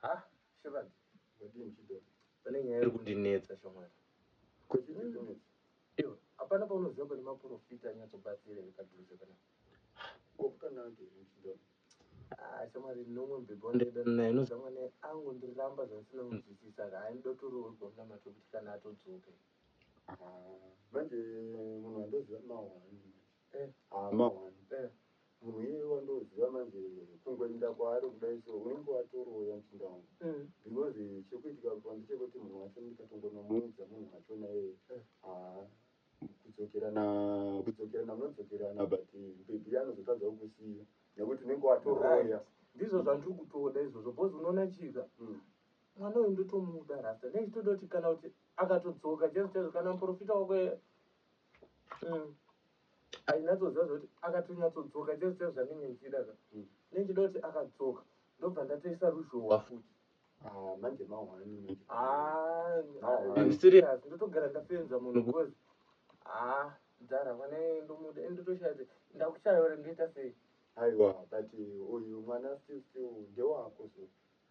Ha Shepherd wadii muchidhori pane nyaya iri kundinetsa shamwari. Ko chii chiri kunetsa? Iwe hapana paunoziva pane maporofita anyatsobatsira here padhuze panapa? Ko kutonaka here muchidhori? Ah shamwari nomwe mubhebhi wandaidana naye inoziva mwana iye angondiramba zvandisina kunzwisisa saka haindida kutoroorwa munamato wekuti kana atodzoka. Ah manje munhu wandoziva mahwani manje. Eh hama wani eh munhu iyeye wandoziva manje kungoinda kwaari kudai so unenge watoroya muchinda wangu mm. because eh, chekuitika pandichekuti munhu wacho ndikatonomuudza munhu wacho naye eh, haa kudzokerana kudzokerana munodzokerana but eh, bhebhi anozotadza kukusiya nekuti unenge watoroya ndizvo zvandiri kutoda izvozvo bhozi unoona chika mm. mwana uyu ndotomuda rasta nechitoda kuti kana kuti akatodzoka chezvo chezvo kana muprofita wako Mm. Ainatsoziva zvekuti akatonyatsodzoka chese chese zvanenge ndichida zva. Mm. Nendichida kuti akadzoka ndobva ndatoisa ruzhowa futi. Ah, manje mahwani. Ah, ah, I'm serious. Ndotogara ndafenza munhu because ah, mdhara mwana ndomuda and ndotoshaya kuti ndakushaya ore ndoita sei? Aiwa, but uyu mwana still still ndewako so.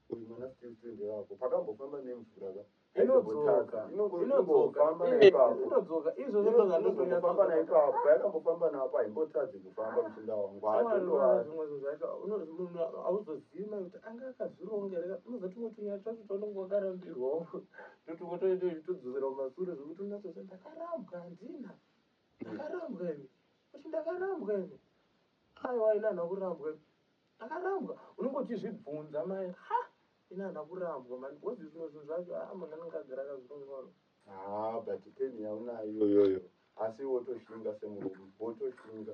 Uyu mwana still still ndewako. Pakambofamba nemvura ka. Inodzoka. Inongo- Inongofamba Eh, naipapo. Inodzoka. Izvo zvinoda Inongofamba ndozvinoda. naipapo. Payakambofamba napo haimbotadzi kufamba muchinda wangu. Shamwari, unoona Haimbotadzi. zvimwe zvinhu zvacho, uno- munhu hauzozivi mai kuti anga akazvironga here ka- unoziva tumwe tunyaya twacho twaunenge wakarambirwawo ndotumwe toende uchitodzosera kumasure zvekuti unatoti ndakarambwa handina ndakarambwa ini kuti ndakarambwa ini aiwa ini anhu akurambwa ini Akarambwa unenge uchizvibvunza mai ha ini hana kurambwa mani because zvimwe zvinhu zvacho haa munhu anenge agara akazvingoro haa but peni yaunayo iyoyoyo asi wotoshinga semurume wotoshinga